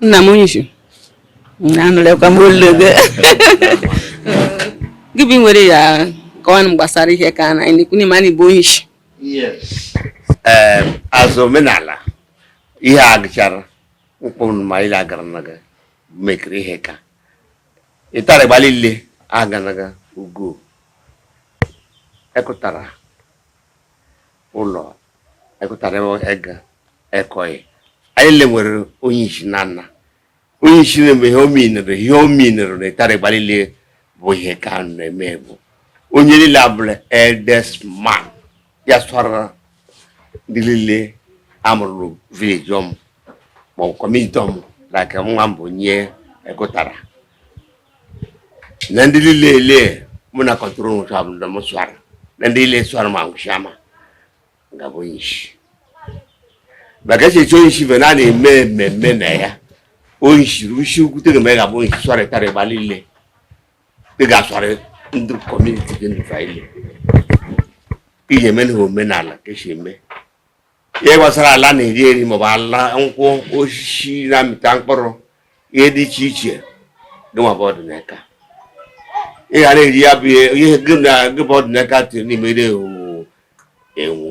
nna m onye isi anụlekwa m olu gị gị bụ nwere ya kọwanụ m gbasara ihe ka na anyị na-ekwu ma anyị bụ onye isi ee azụ omenala ihe a gụchara mkpụrụ ma ile agara na gị mekiri ihe ka ịtara gbalị ile aganaga ugo ekụtara ụlọ ekụtara ego ekọghị ha lile nwere onye isi na nna onye isi na-eme ihe ominere ihe ominere na ịtara gbalile bụ ihe ka na-eme bụ onye niile abụla eldest man ya sụara ndị niile a mụrụ village ọmụ ma ọ bụ community ọmụ like nwa mbụ nye ekụtara na ndị niile ele mụ na control nwụcha bụ ndị m sụara na ndị niile sụara ma nwụcha ma m ga-abụ onye isi maka echichi onye isi bụ na a na-eme mmemme na ya onye isi ruo isi ukwu tega ma ị ga-abụ onye isi sụara ịtara ịgba niile ị ga-asụarị ndị community gị ndụfa ile iji eme na omenala ka esi eme ihe gbasara ala na-eri eri maọbụ ala nkwụ osisi na-amịta mkpụrụ ihe dị iche iche gịnwa bụ ọdịnaka ị ga na-eri ya bụ ihe gị na gị bụ ọdịnaka tiri n'ime ire owuwu enwu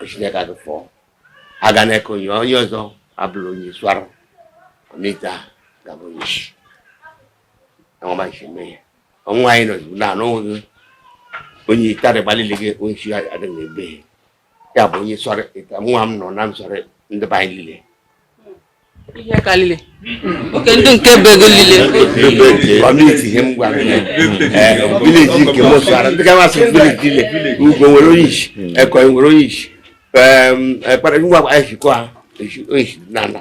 o si n'aka gị fọọ aga n'aka onye onye ọzọ abụrụ onye sụara ọmịta ga-abụ onye isi ọma nsi mee ya ọnwa anyị nọ na anụghị onye itara gbalile gị onye isi adị na ebe ya bụ onye sọrọ ịta nwa m nọ na m sọrọ ndị be anyị lile ihe ka lile oke ndị nke be gị lile community ihe m gwara ya village nke m sọrọ ndị gawa sị village lile ugbo nwere onye isi ekọ nwere onye isi ekpere ngwa anyị sikwa onye isi na ala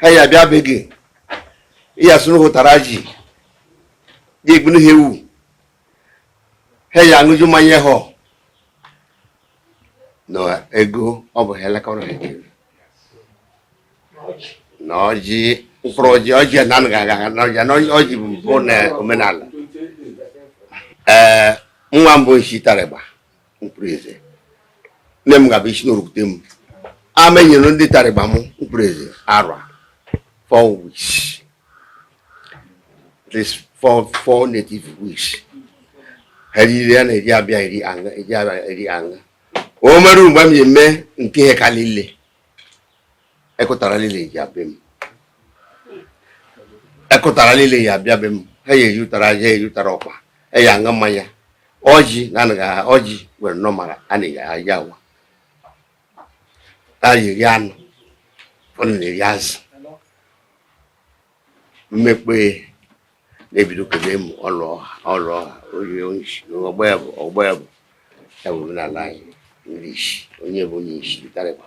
ha ya bịa be gị ya sụnụ ha ụtara ji gị egbunu ha ewu ha ya aṅụju mmanya ha na ego ọ bụ ha elekọrọ ha ekele na ọjị mkpụrụ ọjị ọjị na anaghị aga aga na ọjị na ọjị bụ mbụ na omenala ee nwa mbụ nshi tarịgba mkpụrụ eze nne m ga-abụ isi n'orukute m amenyere ndị tarịgba m mkpụrụ eze arọ four weeks that is four native weeks ha riri ya na-eji abịa eri aṅa eji abịa eri aṅa o mere mgbe m ji eme nke ihe ka niile ekụtara niile ji abịa m ekụtara niile ya abịa be m ha ya eji ụtara ji eji ụtara ọkpa eji aṅụ mmanya ọjị na anaghị aha ọjị were nọ mara a na-eji aja awa a na-eri anụ ụfọdụ na-eri azụ mmekpe na-ebido kebe m ọlụ ọha ọlụ ọha onye onyeisi ọgba ya bụ ọgba ya bụ ya bụ omenala anyị ndị isi onye bụ onye isi tarịkwa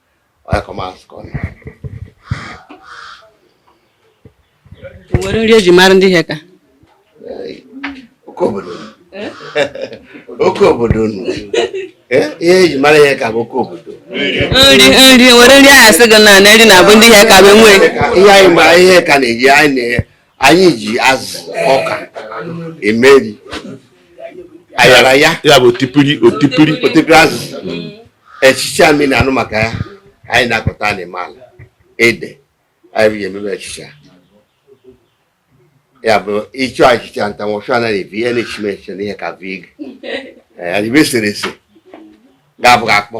nwere nri eji mara ndị Iheaka oke obodo eh? oke obodo eh? ihe eji mara Iheaka bụ oke obodo nri nri nwere nri a ya-asị gị na nri na-abụ ndị Iheaka bụ enwe ihe anyị ma Iheaka na-eji anyị na-enye anyị ji azụ ọka emeri ayaraya ya bụ otipiri otipiri otipiri azụ echicha anyị na-anụ maka ya anyị na-akọta n'ime ala ede anyị ji emebe echicha ya bụ ị chọọ achịcha ntanwụchụ anaghị ebi ihe na-echi mechi n'Iheaka vig adịbe eserese ga-abụghị akpọ